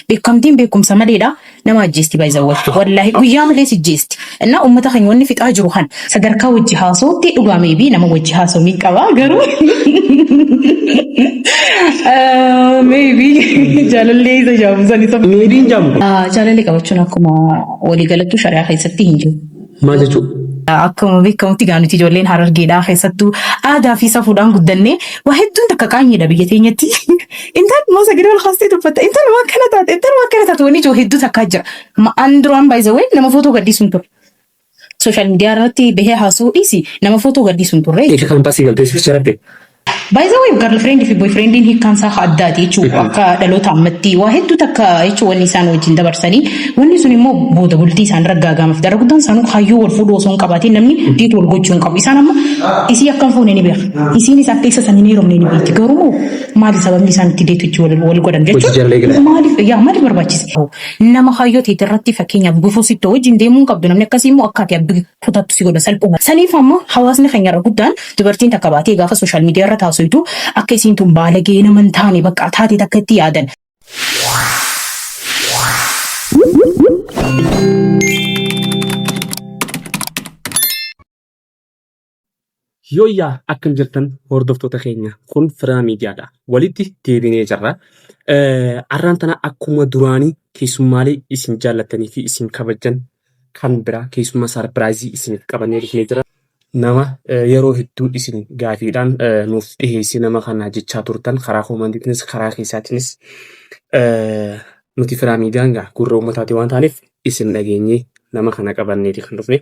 Beekamtiin beekumsa maleedha nama ajjeesti by the way. Wallaahi guyyaa malee si jeesti. Innaa uummata keenya wanni fixaa jiru kan sadarkaa wajji haasawutti dhugaa maybe nama wajji haasawu ni qaba garuu Ah, maybe jaalallee isa jaamu san isa Meebiin jaamu kun. Ah, Jaalallee qabachuun akkuma waliigalattuu shari'aa keessatti hin jiru. Maal jechuudha? Akkuma beekamutti gaa nuti ijoolleen harargeedhaa keessattuu aadaa fi safuudhaan guddannee waa hedduun takka qaanyeedha biyya teenyatti. Intaan immoo sagalee ol kaastee dubbatta. Intaan waan kana taate, intaan waan kana taate wanni ijoo hedduu takkaa jira. Ma- An duraan by the way nama footoo gadhiisuun ture. Sooshaal miidiyaa irratti bahee haasa'uu dhiisi nama footoo gadhiisuun turre. Eega kan baasii galtee sibicha rabbe. Baay'ee garlfreend fi boyfriendiin hiikkaan isaa haa addaati jechuudha. Akka dhaloota ammatti waa hedduu takka jechuun wanni isaan wajjin dabarsanii wanni sun immoo booda bultii isaan irra gaagaamaaf darra guddaan isaanuu kaayyoo wal fuudhuu osoo hin qabaatiin namni deet wal gochuu hin qabu. Isaan amma isii akka hin fuune ni beeka. Isiinis akka isa sanii hin heerumne ni beekti. Garuu maali sababni isaan itti deet hojii wal godhan jechuudha. Maaliif yaa maaliif barbaachise? Nama kaayyoo teetirratti fakkeenyaaf gufuu sittoo wajjin deemuu hin qabdu namni akkasii immoo akka ati kutattu si godha salphuma. Saniif ammoo hawaasni keenya irra guddaan dubartiin takka baatee gaafa sooshaal miidiyaa irra taasisu akka isiin tun baalagee nama hin taane bakka taate takka itti yaadan. Yooyyaa akkam jirtan hordoftoota keenya kun firaa miidiyaadha walitti deebinee jirra arraan tana akkuma duraanii keessummaalee isin jaallattanii fi isin kabajjan kan biraa keessummaa saarpiraayizii isiniif qabannee dhufnee jira nama eh, yeroo hedduu isin gaafiidhaan eh, nuuf dhiheessee nama kanaa jechaa turtan karaa koomandiitiinis karaa keessaatiinis eh, nuti firaa miidiyaan gaa gurra uummataati waan taaneef isin dhageenyee nama kana qabanneeti kan dhufne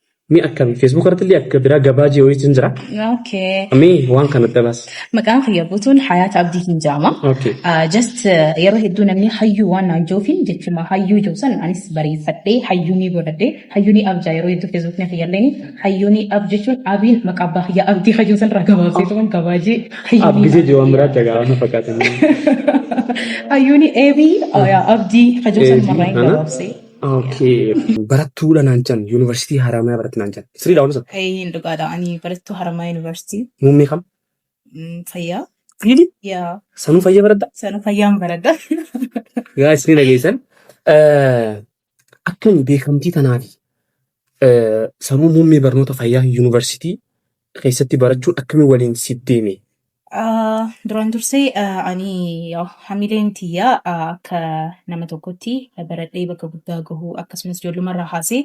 Mi akkami Facebook irratti illee akka biraa gabaa jiru jechuun jira. Okay. Mi waan kana dabas. Maqaan kiyya guutuun Hayaat Abdiitiin jaama. Okay. Ah, Just eh, yeroo hedduu namni hayyuu waan naan joofiin jechuma hayyuu joo san anis bareeffadhee hayyuu ni godhadhee hayyuu ni abjaa yeroo hedduu feesbuuk na fayyadleen hayyuu ni ab jechuun abiin maqaa abbaa kiyya abdii hayyuu san irraa gabaabsee turan gabaajee hayyuu ni Abbisee jiru waan biraa dagaa waan fakkaatan. hayyuu ni eebii abdii hayyuu san Eebii, irraa hin ana. gabaabsee. Okay. Barattuu dha naan jedhan yuunivarsiitii Haramaya baratti naan jedhan. Sirrii dha waan sun. Eeyyeen dhugaadha. Ani barattuu Haramaya Yuunivarsiitii. Muummee kam? Mm, Fayyaa. Really? Yaa. Sanuu fayyaa baradda? Sana fayyaan baradha. Gaa isin dhageessan. Akkami beekamtii tanaa fi sanuu muummee barnoota fayyaa yuunivarsiitii keessatti barachuun akkamiin waliin siif deeme? Ah, Duraan dursee ah, ani ah, hamileen tiyya ah, akka nama tokkotti eh, baradhee bakka guddaa gahuu akkasumas ijoollumarraa haasee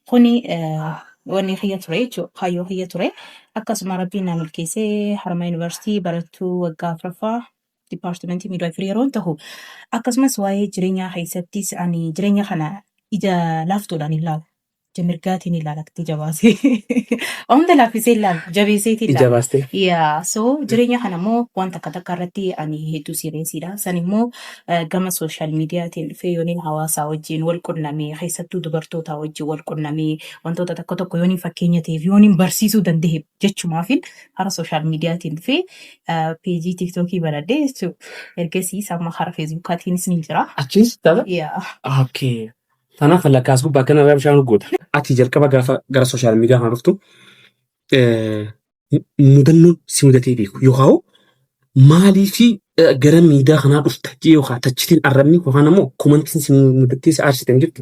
kuni eh, wanni kiyya ture jechuudha. Kaayyoo kiyya ture. Akkasuma rabbiin na milkeessee harma yuunivarsiitii barattuu waggaa afuraffaa dipaartimentii miidwaayifirii yeroon tahu akkasumas waa'ee jireenyaa keessattis ani jireenya kana ija laaftuudhaan hin laalu. ija mirgaatiin ilaala itti jabaasee. Omta laaffisee ilaala jabeeseetiin ilaala. Ijabaastee. Yaa so jireenya kana immoo wanta akka takka irratti ani hedduu siireesiidha. San immoo eh, gama sooshaal miidiyaatiin dhufee yooniin hawaasaa wajjin wal qunnamee keessattuu dubartootaa wajjin wal qunnamee wantoota tokko tokko yooniin fakkeenya ta'eef yooniin barsiisuu danda'e jechumaafin hara sooshaal miidiyaatiin dhufee eh, peejii tiiktookii banadhee jechuudha. Ergasiis amma hara feesbuukaatiinis ni jira. Achiis dhala? Yaa. Okay. Tanaaf lakkaas gubbaa akkana irraa bishaan urgoota. Ati jalqaba gaafa gara sooshaal miidiyaa kana dhuftu mudannoon si mudatee beeku yookaan maalii fi gara miidiyaa kanaa dhufta jee yookaan tachitiin arrabni yookaan ammoo komantiin si mudattee si aarsitan jirtu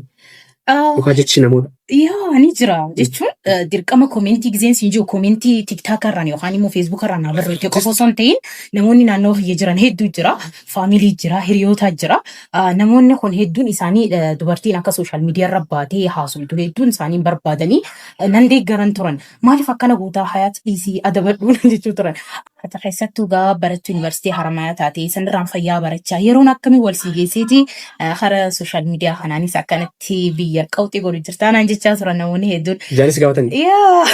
yookaan jechi namoota. Yaa ni jira jechuun dirqama komentii gizeen siin jiru komentii tiktaaka irraan yookaan immoo feesbuuka irraan barreeffamee qofa osoo hin ta'in namoonni naannoo kiyya jiran hedduu jira. family jira, hiriyoota jira. Ah, Namoonni kun hedduun isaanii eh, dubartiin akka social media irra baatee haasoftu hedduun isaanii hin barbaadanii eh, nan deeggaran turan. Maaliif akkana gootaa hayaat dhiisii adabadhuu nan jechuu turan. Ati keessattuu gaa barattuu yuunivarsiitii haramayaa taate sanirraan fayyaa barachaa yeroon akkamii wal sii geesseeti Eh, Kara sooshaal miidiyaa kanaanis akkanatti biyya qawxii godhu jirtaa naan jechaa turan namoonni hedduun. Jaanis gaafatanii. Yaa!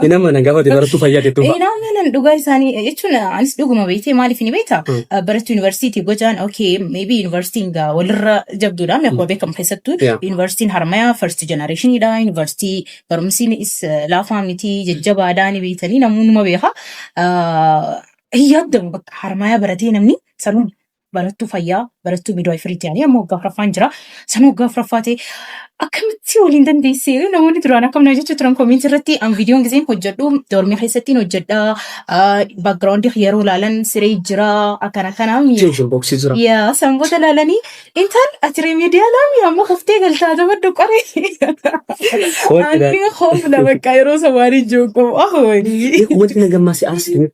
Inni amma nan gaafate barattuu fayyaa jettuu fa'a. Inaa manan dhugaa isaanii jechuun anis dhuguma beektee maaliif ni beektaa? Mm. Barattuu yuunivarsiitii gojaan okay maybe yuunivarsiitiin gaa walirra jabduudha amma akkuma beekamu keessattuu Yeah. yuunivarsiitiin harmayaa first generationidha yuunivarsiitii barumsiin is laafaa miti jajjabaadhaa ni beektanii namoonni numa beeka. Ah, Hin yaadamu bakka harmayaa baratee namni sanuun barattuu fayyaa, barattuu midwaayifiriin ta'anii amma waggaa afuraffaan jira. Sana waggaa afuraffaa ta'e akkamitti waliin dandeessee namoonni duraan akkam na jechuu turan komiinti irratti an viidiyoon giseen hojjedhu doormii keessattiin hojjedha. Baakgiraawundi yeroo ilaalan siree jira akkana akkana. Tension box jira. Yaa sanboota ilaalanii intal ati remediyaala mi amma kuftee galtaa taphadhu qoree. Wanti na- Ani hoofna bakka yeroo samaanii joogu. Wanti na gammaase aarsi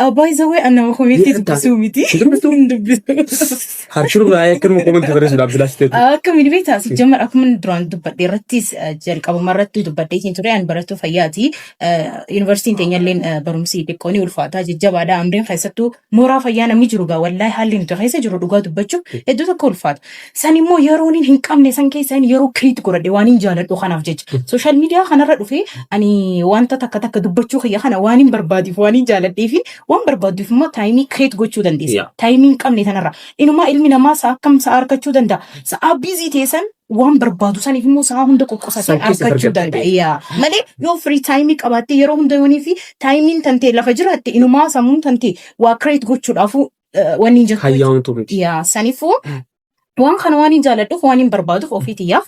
Abbaa isa wayii annama komeetti dubbisuu miti. Hin dubbisu. Harshuu baay'ee akkanuma komantii barreessuudhaaf silaa siteetu. Akka midhibee taasif jammar akkuma duraan dubbadhe irrattis jalqabuma irratti dubbadhee siin ture ani barattuu fayyaati. Yuunivarsiitiin teenyalleen barumsi xiqqoo ni ulfaataa jajjabaadha. Amreen keessattuu mooraa fayyaa namni jiru gaa wallaahi haalli nuti keessa jiru dhugaa dubbachuuf hedduu tokko ulfaata. San immoo yeroo nin hin qabne san keessa inni yeroo kiriitti godhadhe waan hin jaaladhu kanaaf jecha. Sooshaal miidiyaa kanarra dhufee ani wanta takka takka dubbachuu kiyya kana waan hin barbaaduuf waan hin jaaladhee fi waan barbaaduuf immoo taayimii kireet gochuu dandeessa. Yeah. Taayimii hin qabne tanarra. Inumaa ilmi namaa sa'a akkam sa'a argachuu danda'a. Sa'a biizii ta'e san waan barbaadu saniif immoo sa'a hunda qoqqosatee San keessa argachuu argachuu danda'a. danda'a. Yeah. Malee yoo firii taayimii qabaattee yeroo hunda yoonii fi taayimiin tantee lafa jiraatte inumaa sammuun tantee waa kireet gochuudhaafuu wanni hin jirtu. Hayyaamtu miti. Yaa sanifuu waan kana waan hin jaaladhuuf waan hin barbaaduuf ofii tiyyaaf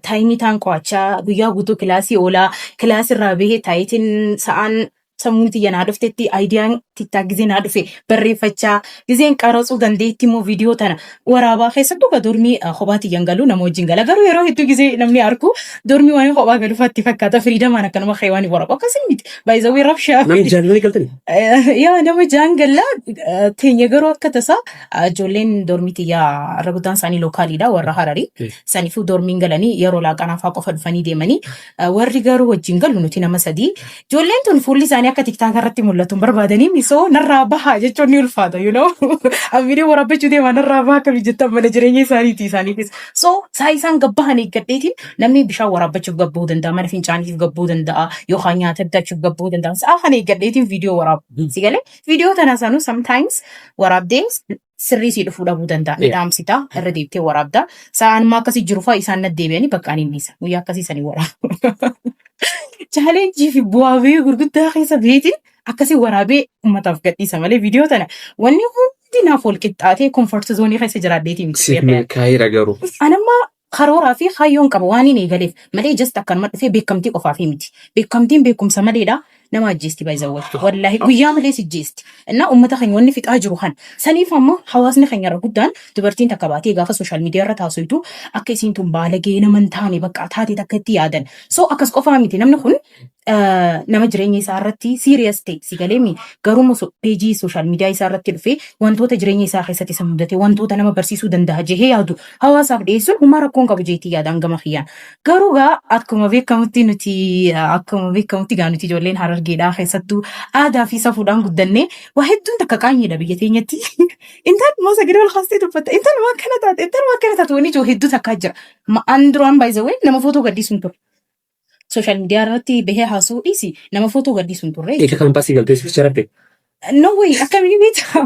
taayimii taan qo'achaa guyyaa guutuu kilaasii oolaa kilaasii irraa bahee taayitiin sa'aan sammuun tiyya naa dhuftetti aayidiyaan tittaa gizee naa dhufe barreeffachaa gizeen qaratsuu dandeetti immoo viidiyoo tana waraabaa keessattuu ka dormii ah, kophaa tiyyan galu nama wajjin gala garuu yeroo hedduu gisee namni arku dormii waan kophaa galu fatti fakkaata firiidamaan akkanuma kee waan waraabu akkasii miti baay'isawwee rabshaa Namni fi jaallatanii galtanii? Eh, yaa nama jaan galla eh, teenya garuu akka tasaa eh, ijoolleen dormii tiyyaa irra guddaan isaanii lookaaliidha warra hararii Eh. saniifuu dormiin galanii yeroo laaqanaafaa qofa dhufanii deemanii Eh, Warri garuu wajjin galu nuti nama sadii. Ijoolleen tun fuulli isaanii akka tiktaaka irratti mul'atu hin barbaadanii misoo narraa baha jechuun ni ulfaata. You know? Abidii warabbachuu deemaa narraa baha akka jettan mana jireenya isaaniiti isaaniifis. So saa isaan gabbahan eeggadheetiin namni bishaan waraabbachuuf gabbuu danda'a, mana fincaaniif gabbuu danda'a, yookaan nyaata bitachuuf gabbuu danda'a. Saa kana eeggadheetiin viidiyoo waraabu. Si galee viidiyoo tana sanuu sometimes waraabdee sirrii sii dhufuu dhabuu danda'a. Ni dhaamsitaa, irra deebitee waraabdaa. Sa'aan immoo akkasii jiru fa'a isaan na deebi'anii bakka ani hin dhiisa. Guyyaa akkasii sanii waraabu. Chaalenjii fi bu'aa bahii gurguddaa keessa beetiin akkasii waraabee uummataaf gadhiisa malee viidiyoo tana wanni hundi naaf wal qixxaatee komfort zoonii keessa jiraadheetii miti. Siif milkaa'eera garuu. Anamma Karooraa fi kaayyoon qaba waaniin eegaleef malee just akkanuma dhufee beekamtii qofaafii miti. Beekamtiin beekumsa maleedha nama ajjeesti by the way. Wallaahi guyyaa malee si ajjeesti. Innaa ummata keenya wanni fixaa jiru kana. Saniif amma hawaasni keenya irra guddaan dubartiin takka baatee gaafa social media irratti haasoytu akka isiin tun baalagee nama hin taane bakka taate takka itti yaadan. So akkas qofaa miti namni kun eh, nama jireenya isaa irratti serious ta'e si galeemi garuu immoo so- peejii social media isaa irratti dhufee wantoota jireenya isaa keessatti isa mudate wantoota nama barsiisuu danda'a jehee yaadu hawaasaaf dhiyeessuun humaa rakkoon qabu jeetii yaadaan gama kiyyaan garuu gaa akkuma beekamutti nuti eh, akkuma beekamutti gaa nuti ijoolleen harargeedhaa keessattuu aadaa fi safuudhaan guddannee waa hedduun takka qaanyeedha biyya teenyatti intaan immoo sagalee ol kaastee dubbatta intaan waan kana taate intaan waan kana taate wanni ijoo hedduu takkaa jira Ma- an duraan baay'ee nama footoo gadhiisuun ture Social media irratti bahee haasa'uu dhiisi nama footoo gadhiisu hin turre. Ika kan baasii galtee sificha rabbe. No way akkamii beekta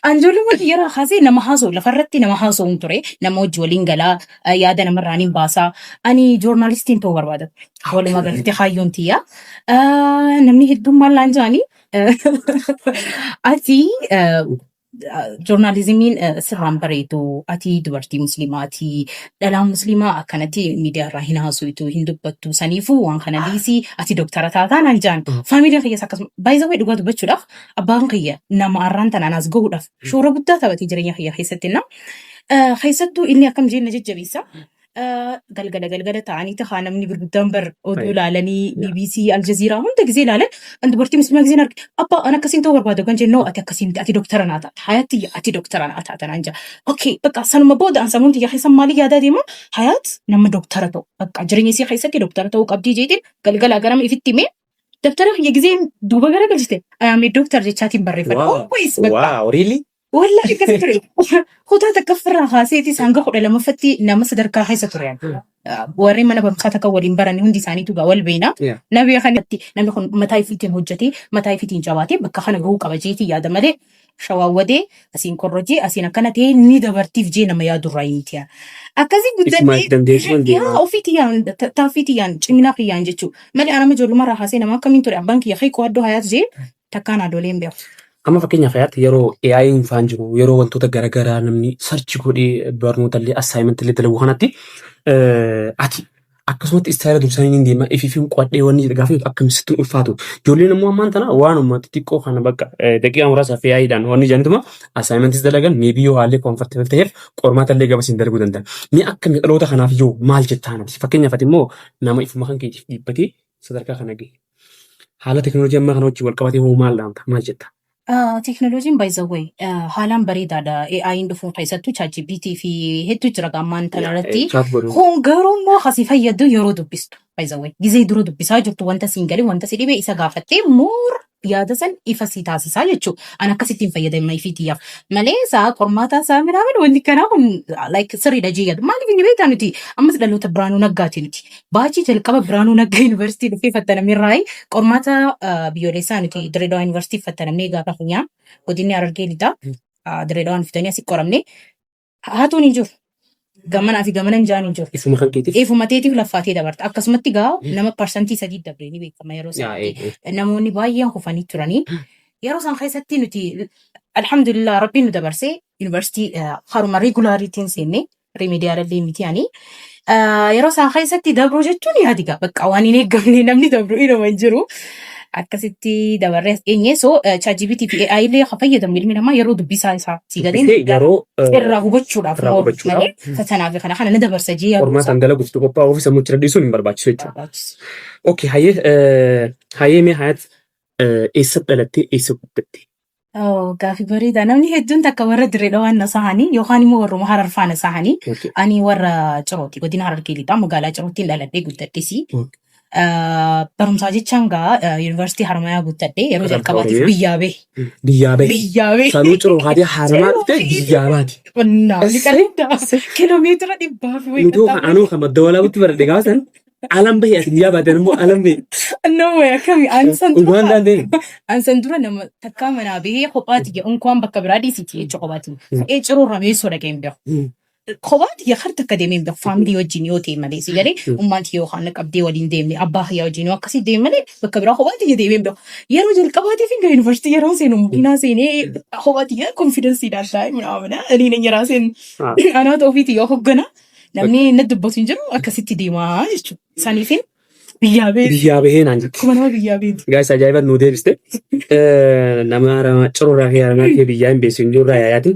an ijoollummaa kiyyarraa kaasee nama haasa'u lafarratti nama haasa'u hin ture nama hojii waliin galaa eh, yaada namarraan hin baasaa ani joornaalistiin ta'uu barbaada ture walumaa galatti kaayyoon tiyya Eh, namni hedduun maal naan jedhani ati eh, Joornaalizimiin sirraan bareedu ati dubartii musliimaati dhalaan musliimaa akkanatti miidiyaa irraa hin haasoftu hin dubbattu saniifuu waan kana dhiisii ati doktara taataa naan jaan faamilii kiyyas akkasuma baay'isawwee dhugaa dubbachuudhaaf abbaan kiyya nama arraan tanaan as gahuudhaaf shoora guddaa taphatee jireenya kiyya keessatti na keessattuu inni akkam jeen na jajjabeessa galgala galgala ta'anii tahaa namni gurguddaan bar oduu laalanii BBC Aljazeeraa hunda gizee laalan an dubartii muslimaa gizeen arge abbaa an akkasiin ta'uu barbaadu kan jennoo ati akkasiin ati doktara naa taata hayaat tiyya ati doktara naa taata naan jaa okay bakka sanuma booda an samuun tiyya keessan maalii yaadaa deema hayaat nama doktara ta'u bakka jireenya isii keessatti doktara ta'uu qabdii jeetiin galgala garama ifitti himee dabtara kiyya gizeen duuba gara galchite ayaamee doktar jechaatiin barreeffadha always bakka wow really Wallahi akkasi ture. Kutaa takka ofirraa kaaseetis hanga kudha lamaffatti nama sadarkaa keessa ture. Warreen mana barumsaa takka waliin baran hundi isaaniitu gaa wal beena. Yeah. Na beekan irratti namni kun mataa ifiitiin hojjetee mataa ifiitiin jabaatee bakka kana gahuu qaba jeetii yaada malee shawaan wadee asiin korrojee asiin akkana ta'ee ni dabartiif jee nama yaadu irraa hin tiya. Akkasii Isuma guddannee dandeessuma hin yaa deemaa. ofii tiyyaan ta- taaffii tiyyaan ciminaa kiyyaan jechuu malee anama ijoollummaa irraa kaasee nama akkamiin ture abbaan kiyya kee qo'addoo hayaas jee takkaa naa dolee hin beeku. Amma fakkeenyaaf hayaatti yeroo AI'n faan jiru yeroo wantoota garaagaraa namni sarchi godhee barnoota illee assignment illee dalagu kanatti ati akkasumatti istaayila dursanii ni deema ifiifiin qo'adhee wanni jedhe gaafa akka misitti ulfaatu ijoolleen immoo ammaan tana waanuma xixiqqoo kana bakka daqiiqaa muraasa fi AI'dhaan wanni jedhantuma assignmentis dalagan meebii yoo haalli comfortable ta'eef qormaata illee gabasiin dalaguu danda'a. Mee akka dhaloota kanaaf yoo maal jettaan ati fakkeenyaaf ati immoo nama ifuma kan keetiif dhiibbatee sadarkaa kana gahe. Haala teknooloojii ammaa kana wajjin wal qabatee hoo maal dhaamta? Maal jetta? Teknooloojiin by the way haalaan bareedaadha. AI'n dhufuun keessattuu ChatGPT fi hedduu jira ammaan tana irratti. Chaat godhu. Kun garuu immoo kasi fayyadu yeroo dubbistu. By the way gizee dura dubbisaa jirtu wanta siin galee wanta si dhibee isa gaafattee moor yaada san ifa sii taasisaa jechuu an akkasittiin fayyadama ifii tiyyaaf malee isaa qormaataa isaa miraamin wanti kanaa kun like sirriidha jee yaadu maaliif inni beektaa nuti ammas dhaloota biraanuu naggaati nuti baachii jalqaba biraanuu nagga yuunivarsiitii dhufee fattanamee irraa qormaata ah, biyyoolessaa nuti direedawaa yuunivarsiitii fattanamnee gaafa funyaa godinni harargee lixaa direedawaan fitanii asi qoramne Haatuun hin jiru. Gamanaa fi gamana hin jaan hin jiru. Ifuma kan keetiif. Ifuma teetiif laffaatee dabarta. Akkasumatti gaa nama parsantii sadii dabree ni beekama yeroo Yaa, eh, sanatti. eh. Namoonni baay'een kufanii turanii. Yeroo san keessatti nuti alhamdulillah rabbiin nu dabarsee yuunivarsiitii eh, haruma regulaariitiin seenne remediyaala illee miti ani. Ah, yeroo isaan keessatti dabruu jechuun yaadi gaa bakka waan hin eeggamne namni dabru inuma hin jiru. Akkasitti dabarree as geenye. So ChatGPT fi AI illee kan fayyadamu ilmi namaa yeroo dubbisaa isaa si galeen Dubbisee yeroo eh, irraa hubachuudhaaf irraa mooruuf hubachuudhaaf. malee fatanaa fi kana kana na dabarsa jee yaaduu isaa qormaataan dalaguuf itti qophaa'uu fi sammuu itti dadhiisuun hin barbaachisu jechuudha. barbaachisu. Okay, hayyee eh, hayyee mee hayaat eh, eessa dhalattee eessa guddatte? Oh, gaaffii bareedaa. Namni hedduun takka warra Dirree Dhawaan na sahanii yookaan immoo warruma Harar faa na sahanii. Okay. Ani warra Cirooti. Godina Harargee lixaa magaalaa Cirootiin dhaladhee guddadhesi. Mm. Ah, Barumsaa jechaan gaa ah, yuunivarsiitii Haramayaa guuttadhee yeroo Katabta jalqabaatiif Oromiyaa? biyyaa bahe. Biyyaa bahe. Biyyaa bahe. Sanuu ciroo kaatee haaramaa dhufte biyyaa baati. Qonnaa Essee, liqaa kiiloomeetira dhibbaa fi Mucoo kan anuu kan madda walaabutti baradhe gaafa san Alan bahe ati guyyaa baatan immoo alan bahe. No way akkami ani san Dhugaan dura dhaan deemu. ani san dura nama takkaa manaa bahee kophaati jedhu unkaan bakka biraa dhiisiti jecha kophaati. Ee ciruu rameessoo dhaqee hin beeku. Kophaati yaa har takka deemee hin beeku faamilii wajjin yoo ta'e malee si galee ummaan kiyya yookaan qabdee waliin deemne abbaa kiyya wajjin yoo akkasii deeme malee bakka biraa kophaati yaa deemee hin beeku. Yeroo jalqabaatiif hin gahe yuunivarsiitii yeroo seenu makiinaa seenee kophaati yaa konfidensiidhaan taa'e minaa minaa ani na nyaraa seenu. Anaata ofiiti yoo hoggana Namni inni dubbatu hin jiru akkasitti deemaa jechuudha. Saniifin biyyaa beeku. Biyyaa bahee naan jette. Kuma nama biyyaa beeku. Gaa'isa ajaa'iba nuu deebiste. Nama arama cirurraa kee aramaa kee biyyaa hin beeksisu hin jiru irraa yaayaati.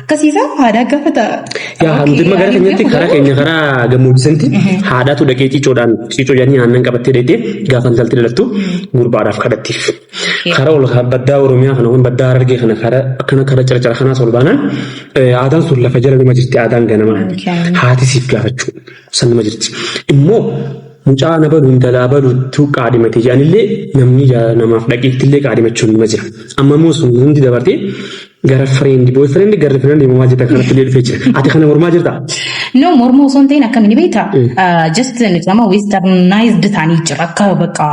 Akkasiisaa haadhaa gaafata. Yaa hamdi magaalaa keenyatti karaa keenya karaa gammoojjisanti haadhaatu dhaqee ciicoodhaan ciicoo jedhanii aannan qabattee dheedhee gaafa intalti dhalattu gurbaadhaaf kadhattiif. Karaa ol baddaa Oromiyaa kana waan baddaa Harargee kana karaa akkana karaa caracara kanaas ol baanaan aadaan sun lafa jala nama jirti aadaan ganama haati siif gaafachuu. Sannuma jirti. Immoo mucaa na balu intalaa balutu qaadhimate jedhanillee namni jaalala namaaf dhaqeettillee qaadhimachuun nima jira. Amma immoo sun hundi dabartee gara friend boy friend gara friend himamaa jirta kanatti illee dhufee jira. Ati kana mormaa jirta? No morma osoo hin ta'in akkamiin beekta? Just nuti amma westernized taanii jira akka bakka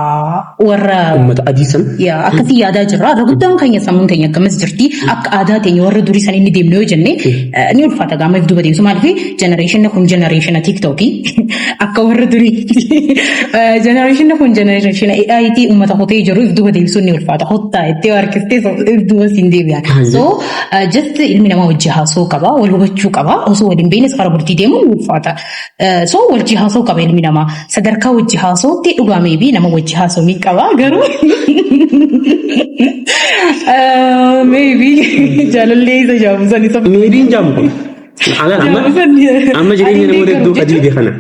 warra ummata adii san yaa akkasii yaadaa jirra. Irra guddaan keenya sammuun teenya akkamas jirti. Akka aadaa teenya warra durii san inni deemnu yoo jenne eh, ni ulfaata gaama if duuba deemsu maaliif jenereeshinni kun jenereeshina tiiktookii akka warra durii jenereeshinni kun jenereeshina AIT uummata hotee jiru if duuba deemsuun ni ulfaata. Hottaa itti yoo harkiftee so- if duuba siin deebi'a. So eh, just ilmi namaa hojii haasoo qaba wal hubachuu qaba osoo waliin beeknes fara bultii deemuun ni ulfaata. So wajji haasoo qaba ilmi namaa sadarkaa wajji haasootti dhugaa meebii nama wajji haasoo ni qaba garuu meebii jaalallee isa jaamu san isa Meebiin jaamu kun. Alaan amma amma jireenya namoota hedduu qadiide kana.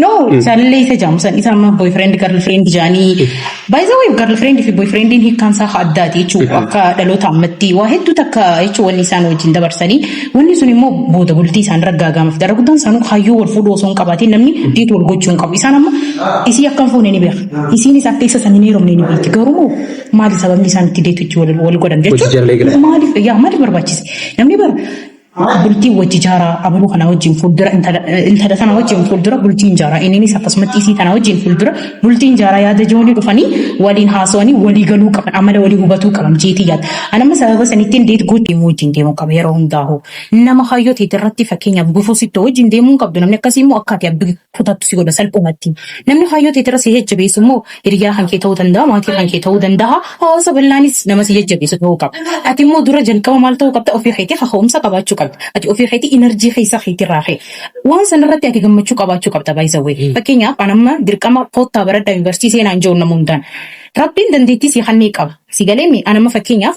No, jaalallee isa jaamu san isa amma boyfriend girlfriend jaanii By the way, girlfriend fi boyfriendiin hiikkaan isaa haa addaati jechuudha. Akka dhaloota ammatti waa hedduu takka jechuun wanni isaan wajjin dabarsanii wanni sun immoo booda bultii isaan raggaagaamaf dara guddaan isaanuu kaayyoo wal fuudhuu osoo hin qabaatiin namni deet wal gochuu hin qabu. Isaan amma isii akka hin fuune ni beeka. Isiinis akka isa san hin heerumne ni beekti. Garuu maali sababni isaan itti deetuchi wal godhan jechuudha. Maaliif barbaachise? Namni bara Haa bultii wajji jaaraa abaluu kana wajjin fuuldura intala intala tana wajjin fuuldura bultiin jaaraa inninis akkasumatti isii tana wajjin fuuldura bultiin jaaraa yaada joonii dhufanii waliin haasawanii walii galuu qaban amala walii hubatuu qaban jeetii yaada. Anamma sababa sanittiin deet guutti immoo wajjin deemuu qaba yeroo hundaa'u. Nama hayyoo ta'e irratti fakkeenyaaf gufuu sittoo wajjin deemuu hin qabdu namni akkasii immoo akka ati abbi kutattu si godha salphumatti. Namni kaayyoo teetirra si jajjabeessu immoo hiriyaa kan kee ta'uu danda'a, maatii kan kee ta'uu danda'a, hawaasa bal'aanis nama si jajjabeessu ta'uu qaba. Ati immoo dura jalqaba maal ta'uu qabda? Ofii keetii kaka'umsa qabaachuu qabda. Ati ofii keetii inarjii keessa keetirraa ka'e. Waan sanarratti ati gammachuu qabaachuu qabda by the way. Fakkeenyaaf an amma dirqama koottaa baradhaa yuunivarsiitii seenaa hin jiru nama hundaan. Rabbiin dandeettii sii kennee qaba. Si galeemmi an amma fakkeenyaaf